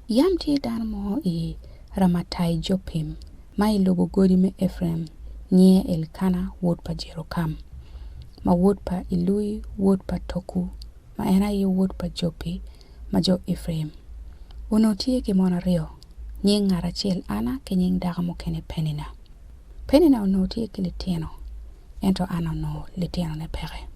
Yam tye dano mo i Ramataijopim, ma i lobo godi me Epraim, nyinge Elkana wod pa Jerokam, ma wod pa Ilui wod pa Toku, ma en aye wod pa Jopi ma jo Epraim. Onongo tye ki mon aryo, nying ngat acel Ana ki nying dako mukene Penina. Penina onongo tye ki litino, ento Ana onongo litinone peke.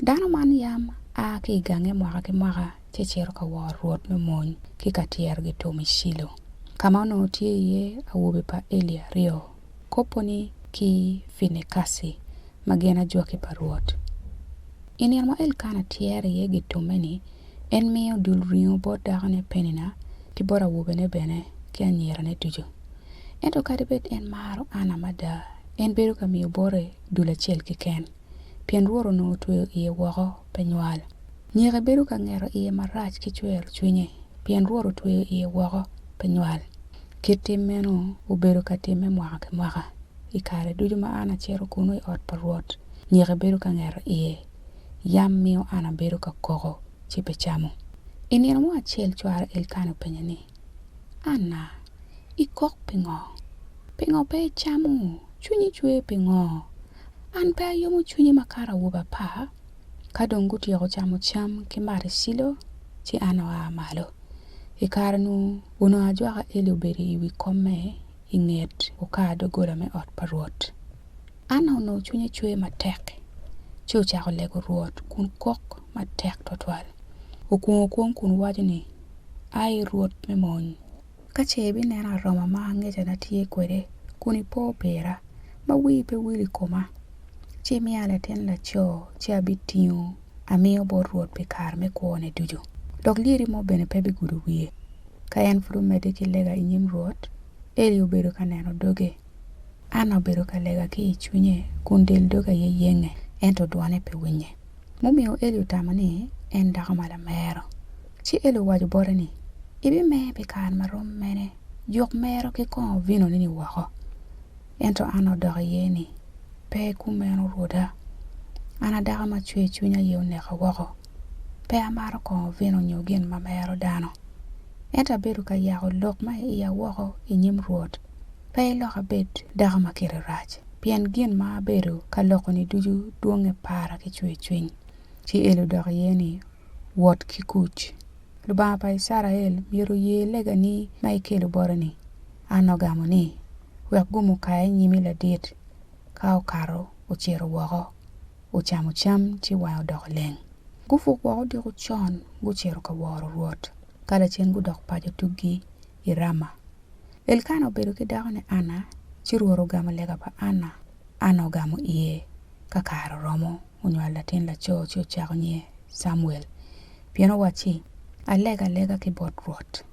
Dano man yam a ki i gange mwaka ki mwaka ci cito ka wor rwot me mony ki ka tyerogi tum i Cilo, ka ma onongo tye iye awobe pa Eli aryo, Koponi ki Finekaci, ma gin ajwaki pa Rwot. I nino ma Elkana tyero iye gitumme-ni, en miyo dul ringo bot dakone Penina ki bot awobene bene ki anyirane ducu. Ento kadi bed en maro Anna mada, en bedo ka miyo bote dul acel keken. pien Rwot onongo otweyo iye woko pe nywal. Nyeke bedo ka ngeto iye marac ki cwero cwinye, pien Rwot otweyo iye woko pe nywal. Kit tim meno obedo ka timme mwaka ki mwaka. I kare ducu ma an acito kunnu i ot pa Rwot, nyeke bedo ka ngeto iye. Yam miyo an abedo ka koko, ci pe camo. I nino mo acel cwara Elkana openye ni. Anna, Ikok pingo? Pingo pe icamo? Cwinyi cwer pingo? An pe ayomo cwinye makato awobi apar? Ka dong gutyeko camo cam ki mato i Cilo, ci Anna oa malo. I kare-nu, onongo ajwaka Eli obedo i wi komme i nget okar doggola me ot pa Rwot. Anna onongo cwinye cwer matek, ci ocako lego Rwot kun kok matek twatwal. Okwong okwong kun waco ni, Ai, Rwot me mony, ka ce ibineno aroma ma angecana tye kwede, kun ipo pira, ma wii pe wil i koma, ci imiya latin laco, ci abitingo amiyo bot Rwot pi kare me kwone ducu, dok lyeti mo bene pe bigudo wiye. Ka en pud omedde ki lega i nyim Rwot, Eli obedo ka neno doge. Anna obedo ka lega ki i cwinye kun del doge aye yenge, ento dwone pe winye. Mumiyo Eli otamo ni en dako ma lamero. Ci Eli owaco bote ni, Ibimer pi kare ma rom mene? Juk mero ki kongo vinoni-ni woko. Ento an odok iye ni, Pe kumeno rwoda. An a dako ma cwer cwiny aye oneka woko. Pe amato kongo vino nyo gin ma mero dano. Ento abedo ka yako lok ma i iya woko i nyim Rwot, pe ilok abed dako ma kite rac, pien gin ma abedo ka loko-ni ducu dwonge para ki cwer cwiny. Ci Eli odok iye ni, Wot ki kuc. Lubanga pa Icrael myero oye legani ma ikelo bota-ni. Anna ogamo ni, Wek gum okaya i nyimi ladit. Ka okato, ocito woko, ocamo cam ci wange odoko leng. Gupuk woko odiko con, gucito ka woro Rwot. Ka lacen gudok paco tuggi i Rama. Elkana obedo ki dakone Anna, ci Rwot ogamo lega pa Anna. Anna ogamo iye ka kare oromo. onywalo latin laco ci ocako nyinge Camuel, pien owacci, Alega alega ki bot Rwot.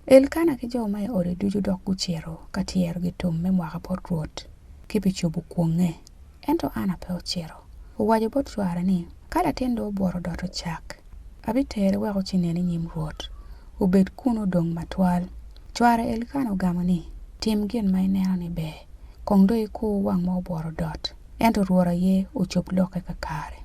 Elkana ki jo ma i ode ducu dok gucito ka tyero gitum me mwaka bot Rwot ki pi cobo kwonge. Ento Anna pe ocito. Owaco bot cware ni, Ka latin dong obworo doto cak, abitere wek ocinen i nyim Rwot, obed kun odong matwal. Cware Elkana ogamo ni, Tim gin ma ineno ni ber, kong dong ikur wang ma obworo dot. Ento Rwot aye ocob lokke kakare.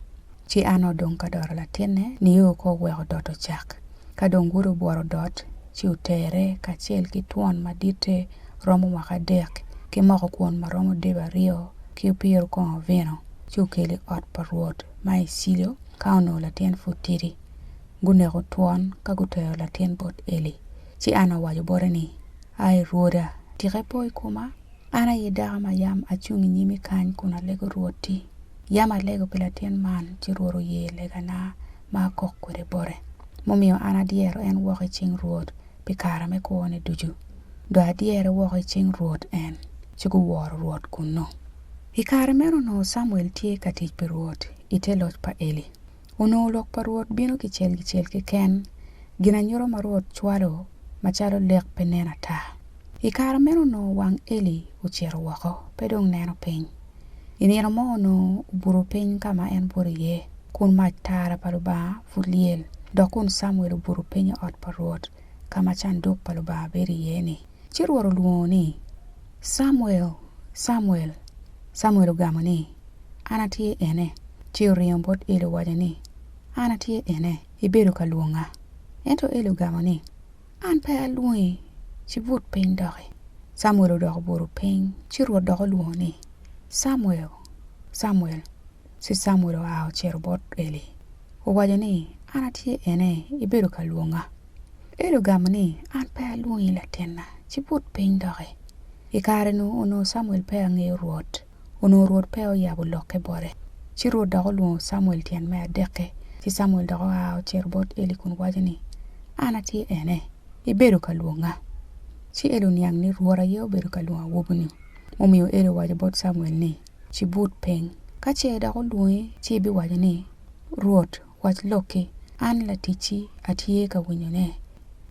Ci Anna odong ka dot latinne, nio ko oweko dot ocak. Ka dong wode obworo dot, ci otere, kacel ki twon maditte romo mwaka adek, ki moko kwon ma romo debe aryo, ki opiro kongo vino, ci okelo i ot pa Rwot ma i Cilo, ka onongo latin pud tidi. Guneko twon ka gutero latin bot Eli. Ci Anna owaco bote ni, Ai, rwoda, tika ipo i koma? An aye dako ma yam acung i nyimi kany kun alego Rwotti. Yam alego pi latin man ci Rwot oye legana ma akok kwede bote, mumiyo an adyero en woko i cing Rwot pi kara me kwone ducu. Dok adyere woko i cing Rwot en, ci guworo Rwot kunnu. I kare meno onongo Camuel tye ka tic pi Rwot i te loc pa Eli. Onongo lok pa Rwot bino kicel kicel keken, ginanyuto ma Rwot cwalo macalo lek pe nen ata. I kare meno onongo wang Eli ocito woko, pe dong neno piny. I nino mo onongo obuto piny ka ma en buto iye, kun mac tara pa Lubanga pud lyel, dok kun Camuel obuto piny i ot pa Rwot ka ma canduk pa Lubanga bedo iye-ni. Ci Rwot olwongo ni, Camuel, Camuel! Camuel ogamo ni, An atye ene. Ci oringo bot Eli owaco ni, An atye ene, ibedo ka lwonga? Ento Eli ogamo ni, An pe alwongi, ci but piny doki. Camuel odok obuto piny, ci Rwot dok olwongo ni, Camuel, Camuel! Ci Camuel oa ocito bot Eli, owaco ni, An atye ene, ibedo ka lwonga? Eli ogamo ni, An pe alwongi latinna, ci but piny doki. I kare-nu onongo Camuel peya ngeyo Rwot, onongo Rwot peya oyabo lokke bote. Ci Rwot dok olwongo Camuel tyen me adek-ki, ci Camuel dok oa ocito bot Eli kun waco ni, An atye ene, ibedo ka lwonga. Ci Eli oniang ni Rwot aye obedo ka lwongo awobi-ni. Mumiyo Eli owaco bot Camuel ni, Ci but piny, ka ce dok olwongi ci ibiwaco ni, 'Rwot Wac lokki, an laticci atye ka winyone.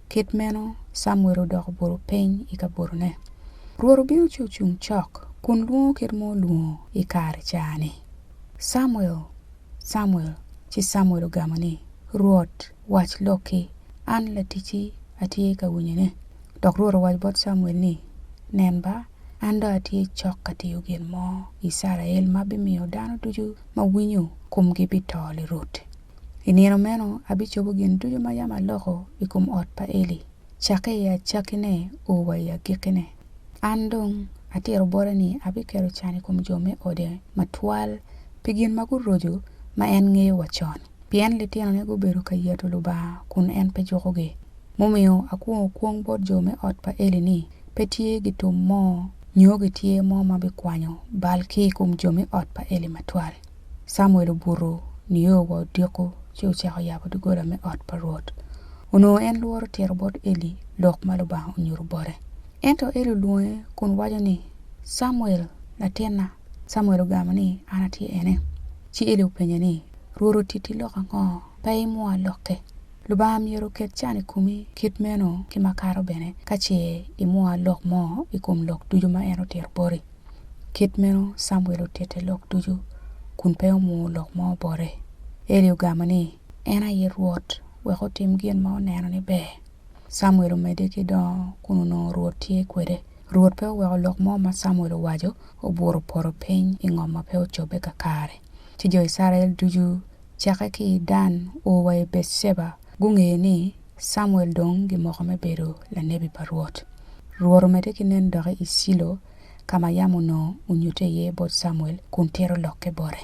Kit meno Camuel odok obuto piny i kabotone. Rwot obino ci ocung cok kun lwongo kit ma olwongo i kare ca-ni, Camuel, Camuel! Ci Camuel ogamo ni, Rwot, wac lokki, an laticci atye ka winyone. Dok Rwot owaco bot Camuel ni, Nen ba, An dong atye cok ka tiyo gin mo i Icrael ma bimiyo dano ducu ma winyo komgi bito lirut. I nino meno abicobo gin ducu ma yam aloko i kom ot pa Eli, cakke i acakkine o wa i agikkine. An dong atito bote ni abiketo can i kom jo me ode matwal pi gin ma guroco ma en ngeyo wa con, pien litinone gubedo ka yato Lubanga kun en pe jukogi. Mumiyo akwongo kwong bot jo me ot pa Eli ni, pe tye gitum mo nyo gityer mo ma bikwanyo bal ki i kom jo me ot pa Eli matwal. Camuel obuto nio wa odiko ci ocako yabo doggola me ot pa Rwot. Onongo en lworo tito bot Eli lok ma Lubanga onyuto bote. Ento Eli olwonge kun waco ni, Camuel, latinna. Camuel ogamo ni, An atye ene. Ci Eli openye ni, Rwot otiti lok ango? Pe imwoa lokke. Lubanga myero oket can i komi kit meno ki makato bene ka ce imwoa lok mo i kom lok ducu ma en otito boti. Kit meno Camuel otite lok ducu kun pe omwowo lok mo bote. Eli ogamo ni, En aye Rwot, wek otim gin ma oneno ni ber. Camuel omedde ki dongo kun onongo Rwot tye kwede. Rwot pe oweko lok mo ma Camuel owaco obuto poto piny i ngom ma pe ocobbe kakare. Ci jo Icrael ducu cakke ki i Dan o wa i Beceba, gungeyo ni Camuel dong gimoko me bedo lanebi pa Rwot. Rwot omedde ki nen doki i Cilo, ka ma yam onongo onyutte iye bot Camuel kun tito lokke bote.